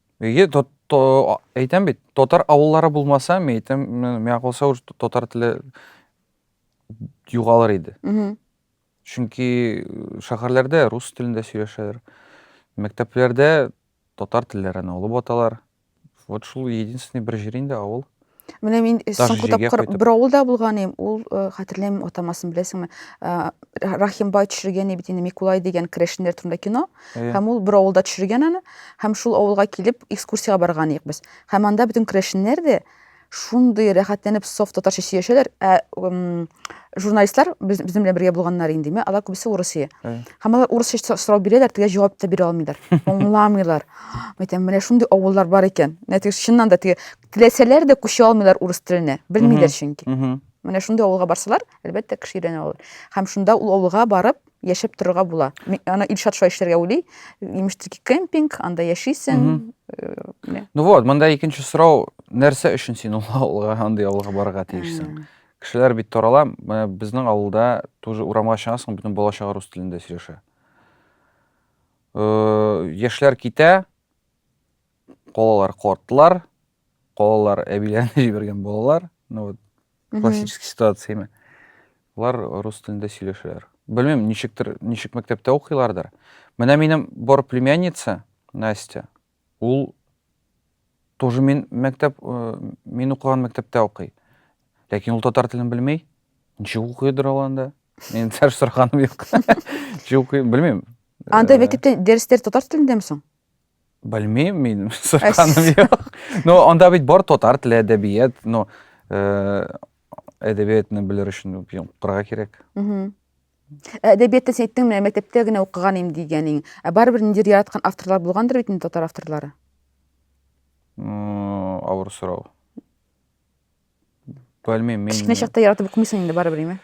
Иге то, то әйтәм бит, татар авыллары булмаса, мин әйтәм, миңа калса уж татар теле югалыр иде. Мгм. Чөнки э, шәһәрләрдә рус телендә сөйләшәләр. Мәктәпләрдә татар телләрен алып аталар. Вот шул единственный бер җир инде авыл. Менә мин э, Таш соңгы җиргә тапкыр кайтып. бер авылда булган идем, ул э, хәтерләмим атамасын беләсеңме? Э, Ра- Рахимбай төшергән иде бит инде Микулай дигән керәшеннәр турында кино. Э, Һәм ул бер авылда төшергән аны, һәм шул авылга килеп экскурсиягә барган идек без. Һәм анда бөтен керәшеннәр дә шундый рәхәтләнеп соф татарча сөйләшәләр, ә м, журналистлар без- безнең белән бергә булганнар инде, ме, алар күбесе урысия. Э. Һәм алар урысча со- сорау бирәләр, тегә җавап та бирә алмыйлар, аңламыйлар. Әйтәм, менә шундый авыллар бар икән. Менә теге чыннан да теге Теләсәләр дә күчә алмыйлар урыс теленә. Белмиләр чөнки. Менә шундый авылга барсалар, әлбәттә, кеше өйрәнә алалар. Һәм шунда ул авылга барып, яшәп торырга була. Ана Илшат шулай эшләргә уйлый. Имеш, тики кемпинг, анда яшисең. Ну вот, монда икенче сорау, нәрсә өчен син ул авылга, андый авылга барырга тиешсең? Кешеләр бит тарала, менә безнең авылда тоже урамга чыгасың, бөтен бала чага рус телендә сөйләшә. Яшьләр китә, Калалар картлар, калалар әбиләрне җибәргән балалар. Ну вот классический ситуация именно. Алар рус телендә сөйләшәләр. Белмим, ничектер, ничек мәктәптә укыйлардыр. Менә минем бар племянница Настя, ул тоже мин мәктәп, э, мин укыган мәктәптә укый. Ләкин ул татар телен белмей. Ничек укыйдыр ул анда? Мин сәр сорганым юк. Ничек укый, белмим. Анда Э, мәктәптә дәресләр татар телендәме соң? Белмим мин, сырканым юк. Ну, анда бит бар татар теле, әдәбият, ну, э, әдәбиятны белер өчен укырга кирәк. Әдәбиятта син әйттең, менә мәктәптә генә укыган идем дигәнең. Ә барыбер ниндидер яраткан авторлар булгандыр бит инде татар авторлары. М, Авыр сорау. белмим мин кечкенә чакта яратып укымыйсың инде барыбер име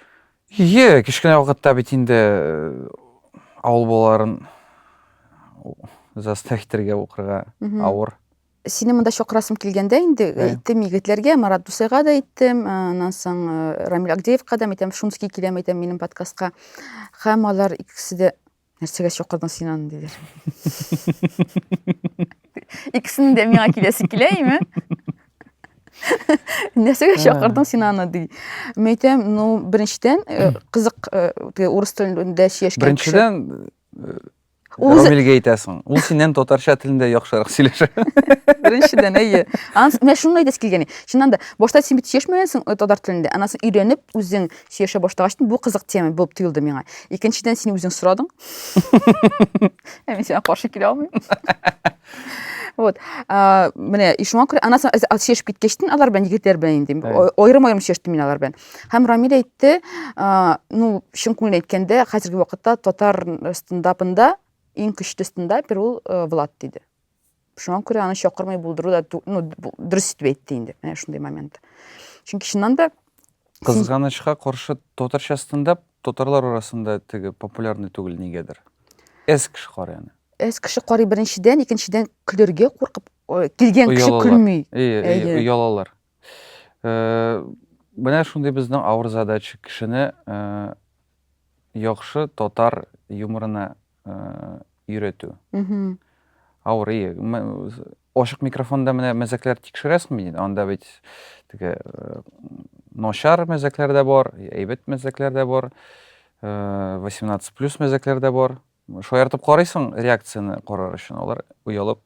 е кечкенә вакытта бит инде э, авыл балаларын заставить итәргә укырга авыр сине монда чакырасым килгәндә инде әйттем егетләргә марат дусайга да әйттем аннан соң э, рамил агдеевка да әйтәм шумский киләм әйтәм минем подкастка һәм алар икесе дә нәрсәгә чакырдың син аны диләр икесенең дә миңа киләсе килә име нәрсәгә чакырдың син аны ди мин әйтәм ну беренчедән э, кызык э, урыс телендә яшәгән беренчедән э, рамилгә әйтәсең ул синнән татарча телендә яхшырак сөйләшә беренчедән әйе менә шуны әйтәсе килгән чыннан да башта син бит чишмәгәнсең татар телендә анан соң өйрәнеп үзең сөйләшә башлагач, бу кызык тема булып тоелды миңа. Икенчедән, син үзең сорадың. Ә мин сиңа каршы килә алмыйм. Вот. А, менә и шуңа күрә аннан соң сөйләшеп киткәчтен алар белән егетләр белән инде аерым-аерым сөйләштем мин алар белән. Һәм Рамил әйтте, а, ну, чын күңелдән әйткәндә, хәзерге вакытта татар стендапында иң көчле стендапер ул э, Влад диде. шуңа күрә аны чакырмый булдыру да ну, дөрес итеп әйтте инде менә шундый момент чөнки чыннан да кызганычка каршы татарча стендап татарлар арасында теге популярный түгел нигәдер әз кеше карый аны әз кеше карый беренчедән икенчедән көлергә куркып килгән кеше көлми оялалар э, менә шундый безнең авыр задача кешене э, яхшы татар юморына өйрәтү авырый ачык микрофонда менә мәзәкләр тикшерәсеңме диде анда бит теге начар мәзәкләр дә бар әйбәт мәзәкләр дә бар 18 плюс мәзәкләр дә бар шаяртып карыйсың реакцияне карар өчен алар оялып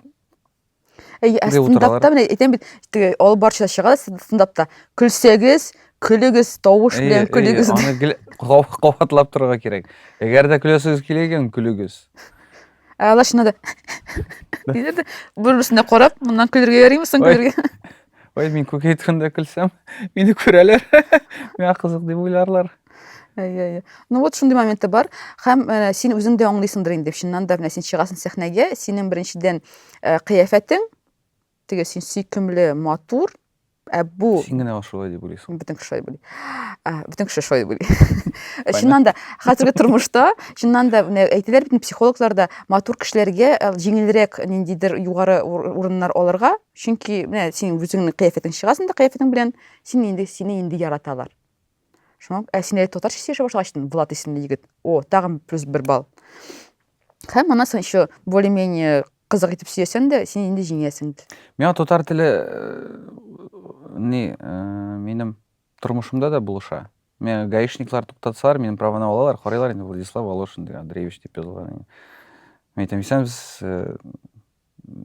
Әй, ә стендапта менә әйтәм бит, теге алып барчылар чыга да стендапта. Көлсәгез, көлегез, тавыш белән көлегез. Аны кабатлап торырга кирәк. Әгәр дә көләсегез килә икән, көлегез. Ә алар шунда да. Диләр дә, бер-берсенә карап, моннан көлергә ярыймы соң көлергә? Ой, мин күк әйткәндә көлсәм, мине күрәләр. Миңа кызык дип уйларлар. Әйе, әйе. Ну вот шундый моменты бар. Һәм ә, син үзең дә аңлыйсыңдыр инде. Чыннан да менә син чыгасың сәхнәгә, синең беренчедән ә, кыяфәтең, теге син сөйкемле, матур, ә бу Син генә шулай дип уйлыйсың. бөтен кеше шулай були. Ә, Бөтен кеше шулай були. Чыннан да хәзерге тормышта, чыннан да менә әйтәләр бит инде психологлар да матур кешеләргә ә, җиңелрәк ниндидер югары ур- урыннар алырга, Чөнки менә син үзеңнең кыяфәтең чыгасың да кыяфәтең белән син инде сине инде яраталар. Шуңа ә син әле татарча сөйләшә башлагач, Влад исемле егет. О, тагын плюс бер балл. Һәм аннан соң еще более-менее кызык итеп сөйләсәң дә, син инде җиңәсең. Миңа татар теле не минем тормышымда да булыша. Миңа гаишниклар туктатсалар, минем праваны алалар, карыйлар инде Владислав Волошин дигән Андреевич дип язылган. Мен әйтәм, исәнбез,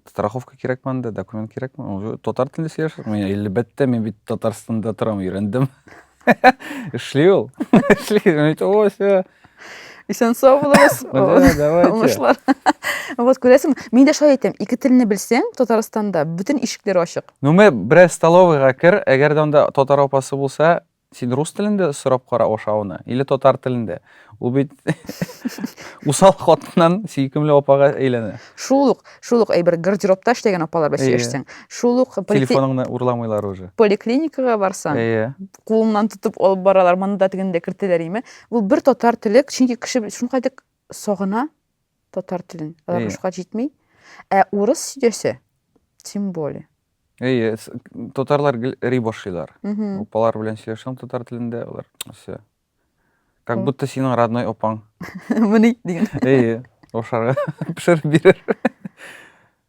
Страховка кирәкме анда, документ кирәкме? Уже татар телендә сөйләшәсез. Мин әлбәттә, мин бит Татарстанда торам, өйрәндем. Эшли ул. Эшли. Мин әйтәм, О, все. Исән сау булыгыз. Мә, давайте. Уңышлар. Вот күрәсең, мин дә шулай әйтәм, ике телне белсәң, Татарстанда бөтен ишекләр ачык. Ну, мә, бераз столовыйга кер, әгәр дә анда татар апасы булса, Син рус телендә сорап кара ашауны, или татар телендә. Ул бит усал хатыннан сөйкемле апага әйләнә. Шул ук, шул ук әйбер гардеробта эшләгән апалар белән сөйләшсәң, шул ук телефоныңны урламыйлар уже. Поликлиникага барсаң, кулыңнан тотып алып баралар, монда тегендә кертәләр име. Ул бер татар теле, чөнки кеше шундый сагына. Татар телен. Алар Әйе. русча җитми. Ә урыс сөйләсә, тем более. Әйе, с- татарлар гел ри башлыйлар. Мгм. Апалар белән сөйләшәм татар телендә, алар все. Как М. будто синең родной апаң. Мени дигән. Әйе, ашарга пешереп бирер.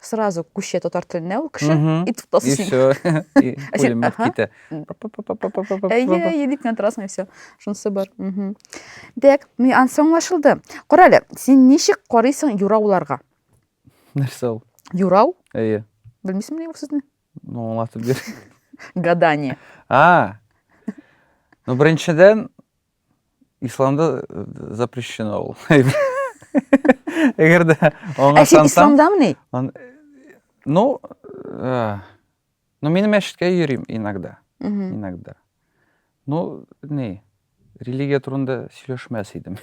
сразу күчә татар теленә ул кеше и тотасы и все пулемет китә әйе әйе дип кенә торасың и все шунысы бар дәк анысы аңлашылды кара әле син ничек карыйсың юрауларга нәрсә ул юрау әйе белмисеңме ул сүзне ну аңлатып бир гадание а ну беренчедән Исламда э, запрещено ул. Әгәр дә аңа Ә син исламдамыни? Ну, э, ну мин мәчеткә йөрим иногда. Иногда. Ну, не, религия турында сөйләшмәс идем.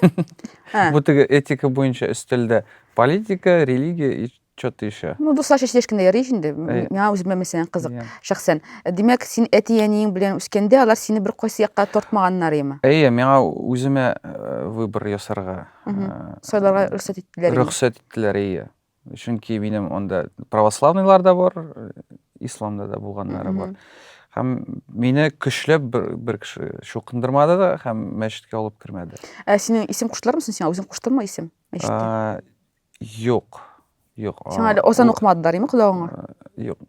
Бу теге этика буенча өстәлдә политика, религия и Чё ты еще? Ну, дуслар чәчелеш кенә ярый инде. Әй. Миңа үземә мәсәлән кызык, Иә. шәхсән. Ә Димәк, син әти-әниең белән үскәндә, алар сине бер кайсы якка тартмаганнар яме? Әйе, миңа үземә э, выбор ясарга Мгм. э, Сайларга рөхсәт иттеләр. яме? рөхсәт иттеләр, әйе. Чөнки минем анда православныйлар да бар, э, исламда да булганнары бар. Мгм. Һәм мине көчләп бер, бер кеше чукындырмады да һәм мәчеткә алып кермәде. Ә синең исем куштылармы соң сиңа? Үзең куштыңмы исем? Мәчеттә. Ә, Юк. Юк. Сиңа әле озан укымадылар, име колагыңа? Юк.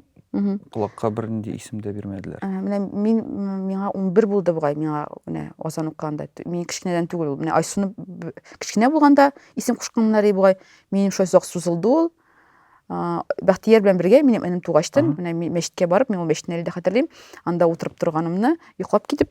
Колакка бернинди исем дә бирмәделәр. Менә мин миңа 11 булды бугай, миңа менә озан укыганда. Мин кечкенәдән түгел ул. Менә Айсуны кечкенә булганда исем кушканнар бугай. Минем шулай озак сузылды ул. Бәхтияр белән бергә минем энем тугачтан, менә мәчеткә барып, мин ул мәчетне әле дә хәтерлим. Анда утырып торганымны, йоклап китеп,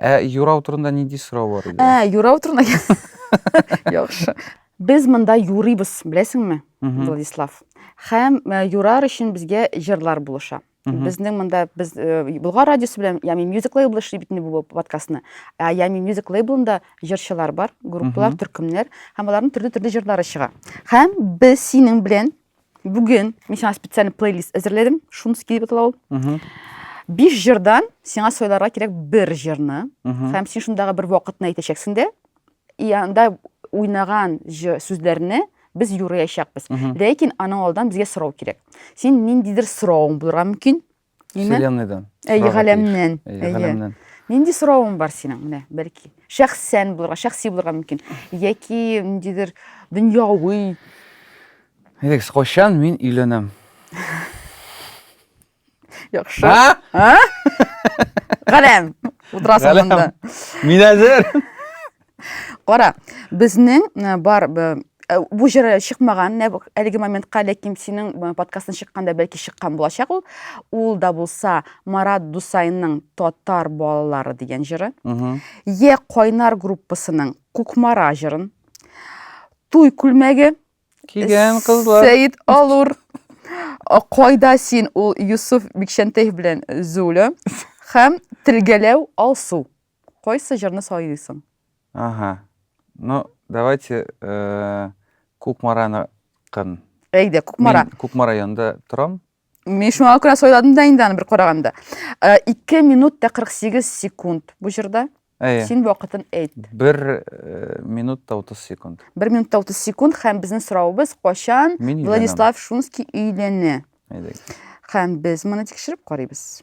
Ә юрау турында нинди сорау бар иде? Ә, юрау турында. Яхшы. Без монда юрыйбыз, беләсеңме, Владислав? Хәм э, юрар өчен безгә җырлар булыша. Безнең монда без э, Булгар радиосы белән Ями Music Label эшли бит бу подкастны. Ә Ями Music Labelында җырчылар бар, группалар, төркемнәр һәм аларның төрле-төрле җырлары чыга. Хәм без синең белән Бүген мин сиңа специальный плейлист әзерләдем. Шуны килеп атала ул. Биш җырдан сиңа сайларга кирәк бер җырны. Һәм син шундагы бер вакытны әйтәчәксең дә, и анда уйнаган сүзләрне без юрыячакбыз. Ләкин аның алдан безгә сорау кирәк. Син ниндидер соравың булырга мөмкин, Вселенныйдан. Әйе, галәмнән. Әйе, галәмнән. Нинди соравың бар синең? Менә, бәлки. Шәхсән булырга, шәхси булырга мөмкин. Яки ниндидер дөньяви. Әйдәгез, кайчан мин өйләнәм? Яхшы. А? А? Галәм. Утырасың монда. Мин әзер. Кара, безнең э, бар э, бу җыры чыкмаган әлеге моментка, ләкин синең э, подкастың чыкканда бәлки чыккан булачак ул. Ул да булса Марат Дусайның Татар балалары дигән җыры. Е Кайнар группасының Кукмара җырын. Туй күлмәге кигән кызлар. Сәид Алур. Кайда син ул Юсуф Бикчәнтәев белән Зуля һәм Тилгәләү Алсу. Кайсы җырны сайлыйсың? Аһа. Ну, давайте Кукмараны кын. Әйдә, Кукмара. Мин Кукмара янында торам. Мин шуңа күрә сайладым да инде аны бер караганда. 2 минут та 48 секунд бу җырда. Әйе. Син вакытын әйт. 1 минут та 30 секунд. 1 минут та 30 секунд һәм безнең соравыбыз качан Владислав Шунский өйләнә? Әйдә. Һәм без моны тикшереп карыйбыз.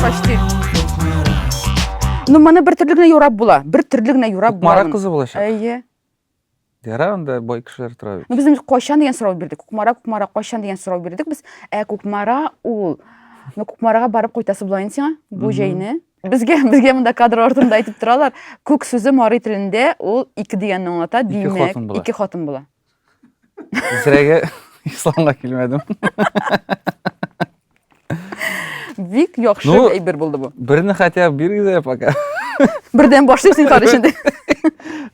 Почти. Ну, моны бер төрле генә юрап була. Бер төрле генә юрап була. Кукмара кызы булачак. Әйе. Ярар, анда бай кешеләр тора бит. Ну, без инде кайчан дигән сорау бирдек. Кукмара, кукмара, кайчан дигән сорау бирдек без. Ә кукмара ул. Ну, кукмарага барып кайтасы була инде сиңа бу җәйне. Безгә безгә монда кадр артында әйтеп торалар. Күк сүзе мари телендә ул ике дигәнне аңлата, димәк, ике хатын була. Ике хатын була. Исерәгә исламга килмәдем. Бик яхшы ну, әйбер булды бу. Берне хотя бы бирегез пока. Бердән башлыйсың карыш инде.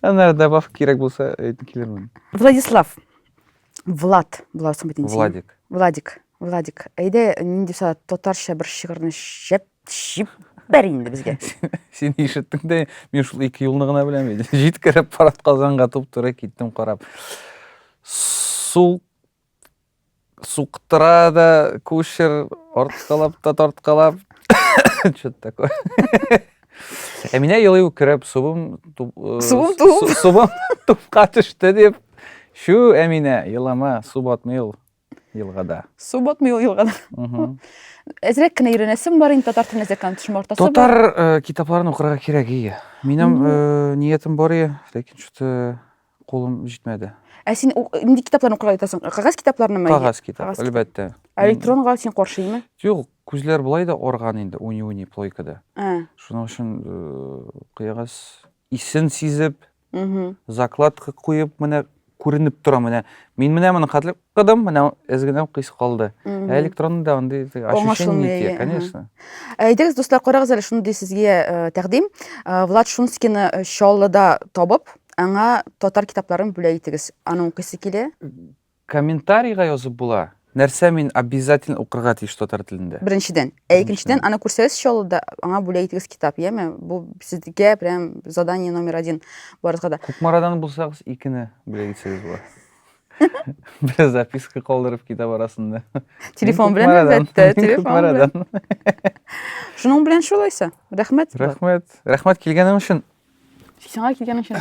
Аннары добавка кирәк булса, әйтеп килермен. Владислав. Влад, буларсың бит инде. Владик. Владик. Владик. Әйдә, нинди сала татарча бер шигырьне шәп тишеп бәр инде безгә син ишеттең дә мин шул ике юлны гына беләм бит җиткереп парад казанга туп туры киттем карап сул суктыра да кучер арткалап та тарткалап что то такое әминә елый үкереп субым субым туып субым тупка төште дип чү әминә елама су батмый ул елгада. Су батмый ул елгада. Әзрәк кенә өйрәнәсем бар инде татар телен әзрәк төшем бар. Татар э, китапларын укырга кирәк ие. Минем э, ниятем бар ие, ләкин что-то кулым җитмәде. Ә син нинди китапларны укырга ятасың? Кагаз китапларынымы? Кагаз китап, әлбәттә. Ә электронга син каршымы? Юк, күзләр былай да орган инде, уни-уни плойкада. Ә. Шуның өчен э, кыягаз исен сизеп, закладка куеп менә күренеп тора менә мин менә моны хәтле кыдым менә эз генә кыйс калды ә электронда андый ощущение итә конечно әйдәгез дуслар карагыз әле шундый сезгә э, тәкъдим э, влад шунскийны э, чаллыда табып аңа татар китапларын бүләк итегез аны укыйсы килә Комментарийга язып була. Нәрсә мин обязательно укырга тиеш татар телендә? Беренчедән. Ә икенчедән, аны күрсәгез чаллыда, аңа бүләк итегез китап, яме? Бу сезгә прям задание номер один барыгызга да. Кукмарадан булсагыз, икене бүләк итсәгез була. Бер записка калдырып китап арасында. Телефон белән әлбәттә, телефон белән. Шуның белән шулайса. Рәхмәт. Рәхмәт. Рәхмәт килгәнең өчен. Сиңа килгәнең өчен.